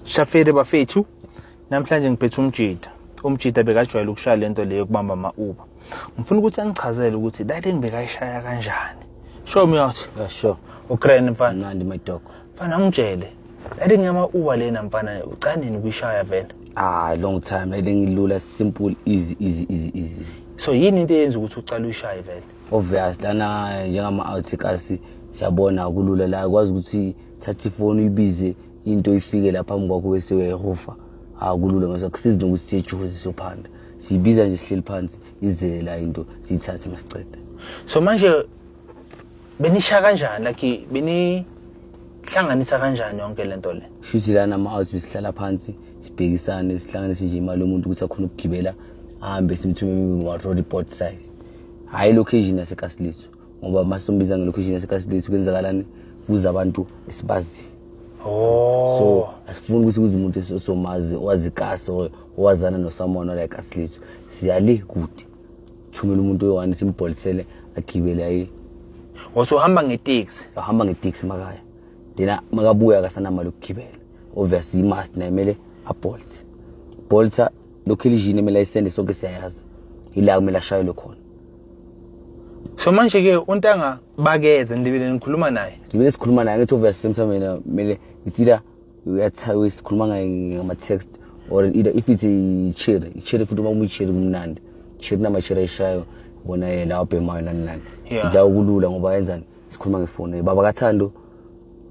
Shafere bafethu namhlanje ngiphethe umjida umjida bekajwayele ukushaya lento leyo kubamba ama Uber ngifuna ukuthi angichazele ukuthi that thing bekayishaya kanjani show me out yeah, sure ugrand mfana mnandi my dog mfana ngitshele that thing yama Uber lena mfana ucanini kuyishaya vele ah long time that thing ilula simple easy easy easy easy so yini into eyenza ukuthi ucala uyishaye vele obvious lana njengama outcasts siyabona kulula la kwazi ukuthi thatha ifoni uyibize into ifike la phambi kwakho bese uyayihofa akulula mase akusizi nokuthi siyejuhozi sophanda siyibiza nje sihleli phansi izele la into siyithathe masicede so manje benisha kanjani like beni hlanganisa kanjani yonke lento le shuthi lana ama house besihlala phansi sibhekisane sihlanganise nje imali yomuntu ukuthi akhona ukugibela ahambe simthume ma road port side hayi location yasekasiliso ngoba uma sombiza ngelocation yasekasdate kwenzakalani kuze abantu esibazi oh. so asifuni ukuthi kuze umuntu osomazi owazi kasi owazana nosamona like asilitho siyale kude thumela umuntu oyi-one simbholisele agibele aye osohamba ngeteksi ahamba ngeteksi makaya then makabuya akasanamali ukugibela obvious imast naye kumele abolt bolta lokhu elijini emele ayisende sonke siyayazi ila kumele ashayelwe khona so manje ke untanga bakeze ndibile nikhuluma naye ngibile sikhuluma naye ngithi uvese semsameni kumele isida uyathawe sikhuluma ngaye ngama text or either if it's ichiri ichiri futhi uma umichiri kumnandi chiri namachiri ayishayo bona ye la obhemayo nani nani la ukulula ngoba yenzani sikhuluma ngefoni baba kathando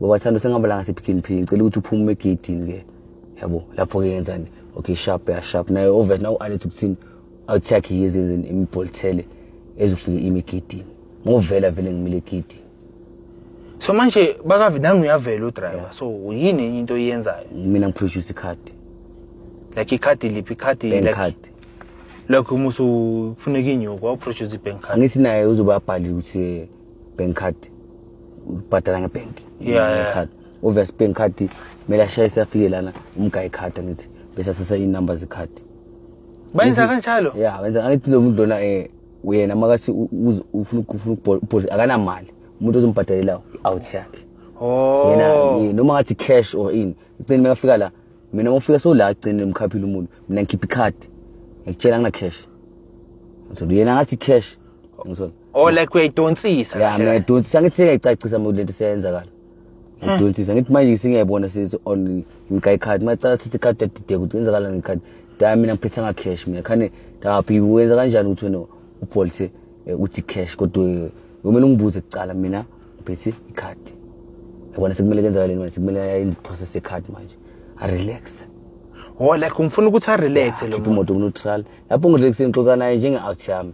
baba kathando sengihamba la ngasephikini phini ngicela ukuthi uphume egedini ke yabo lapho ke yenzani okay sharp ya sharp naye obvious nawe ualet ukuthini awuthi yakhe yezenzeni imibholithele ezofika imigidini ngovela vele ngimile egidini so manje bakavi nami uyavela udriver so yini enye into oyenzayo mina ngiproduce ikhadi like ikhadi liphi ikhadi like card like uma usufuneka inyuko awuproduce i-bank card angithi naye uzobe abhalile ukuthi eh, bank card ubhadala ngebhenki Yeah, yeah. card obvious bank card kumele ashayise afike lana umgayi card angithi bese asesa iy'number zekhadi Bayenza kanjalo? Yeah, wenza ngathi lo muntu lona eh uyena makathi ufuna ukufuna ukubhodla akanamali. Umuntu ozombhadalela out yakhe. Oh. Yena eh, noma ngathi cash or in. Icini makafika la. Mina ngofika so la icini emkhaphile umuntu. Mina ngikhipha icard. Ngikutshela ngina cash. So yena ngathi cash. Ngizona. Oh like uyayidonsisa. Yeah, mina idonsisa ngithi sengiyicacisa lento seyenzakala. ngidonsisa ngithi manje singiyayibona sithi on ngika ikhadi macala sithi ikhadi yadideka ukuthi kwenzakalani ngekhadi da mina ngiphethanga cash mina khane ndaphi wenza kanjani ukuthi wena ubolthe eh, uthi cash kodwa eh, kumele ungibuze kucala mina ngiphethe ikhadi yabona sekumele kenzakaleni manje sekumele ayenze iprocess yekhadi manje arelax oh like ngifuna ukuthi arelax lo muntu imoto kuneutral lapho ngirelaxe ngixoka naye njenge-out yami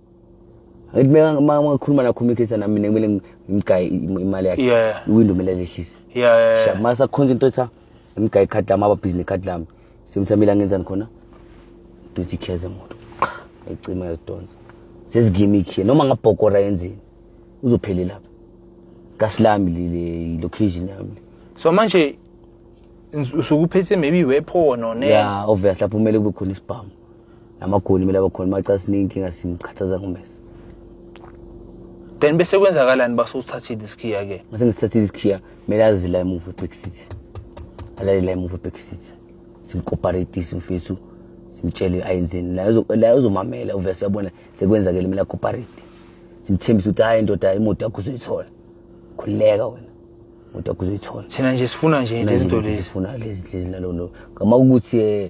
Ngithi uma ngikhuluma nakho umikhetha nami mina kumele ngimgaye imali yakhe. Yeah. Iwindow kumele lehlise. Yeah, yeah. Sha masa khonza into etha ngimgaye card lami aba business card lami. Simthamile angenzani khona? Duthi kheze moto. Ecima yazidonsa. Sezigimik here noma ngabhokora yenzeni. Uzophele lapha. Kasilami le location yami. So manje usukuphethe maybe weapon or ne? Yeah, obviously lapho kumele kube khona isibhamu. namagoli kumele abakhona maxa sineyinkinga simkhathaza ngomesa then bese kwenzakalani basuthathile isikhiya ke mase ngisithathile isikhiya kumele azi la emuva eback seat alale la emuva eback seat simkoparetise mfethu simtshele ayenzeni la uzomamela uvese uyabona sekwenzakele kumele akoparete simthembise ukuthi hayi ndoda imoto yakho uzoyithola khululeka wena imoto yakho uzoyithola thina nje sifuna nje izinto lezi sifuna lezi lezi nalolo ngama ukuthi um eh,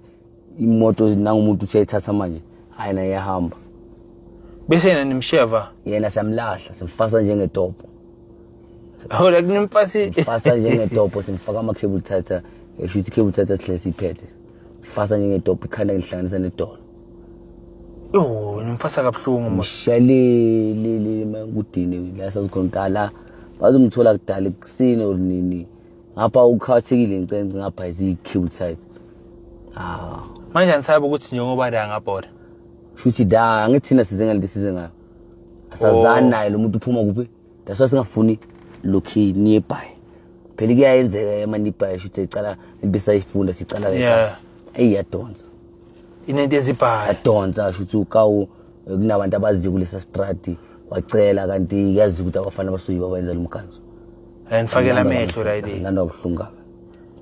imoto nangumuntu useyithatha manje hayi naye yahamba bese yena nimsheva yena samlahla simfasa njengetopo hola kunimfasi fasa njengetopo simfaka ama cable thatha esho ukuthi cable thatha sihle siphethe fasa njengetopo ikhanda ngihlanganisa nedolo yo nimfasa kabuhlungu mshalele le makudini la sazikhona kudala bazomthola kudala kusini or nini ngapha ukhathekile ncenci ngapha iziyi-cute side ah manje angisabe ukuthi njengoba la ngabhoda shuthi da ngithina size ngalento size ngayo asazani oh. naye lo muntu uphuma kuphi that's why singafuni lokhi nearby phela kuyayenzeka emanibhayi shuthi ecala into esayifunda sicala eyi yadonsa inento ezibhayi yadonsa shuthi ukawu kunabantu abaziyo kulesa strati wacela kanti yazi ukuthi abafana basuyi babayenza lo mkhanso and fakela amehlo right nganda ubuhlungu kabi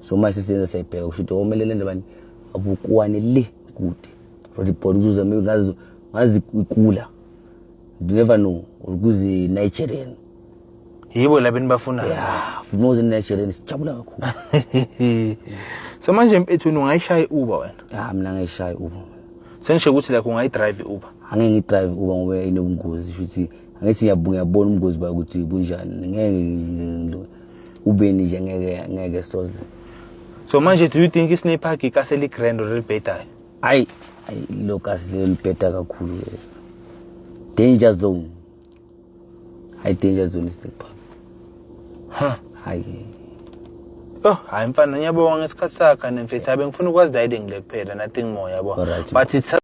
so uma sisenza sayibheka kusho ukuthi omelele oh, ndabani abukuwane le kude rodi body uzuza ngazi ngazi ikula you never know ukuze Nigerian yibo laba enibafuna yeah more than Nigerians sijabula kakhulu so manje mfethu ungayishaya iuber wena ah mina ngayishaya iuber senisho ukuthi like ungayidrive iuber angeke ngidrive uber ngoba inobungozi shuthi angithi ngiyabona ubungozi bayo ukuthi bunjani ngeke ubeni nje ngeke ngeke soze so manje do you think isne park ikaseli grand or libhedayo hayi lokasi lelo libheda kakhulu danger zone hayi danger zone isipha ha hayi Oh, hayi mfana ngiyabonga ngesikhathi sakhe nemfethu abe ngifuna ukwazi dayide ngile kuphela nothing more yabo. Alright. But it's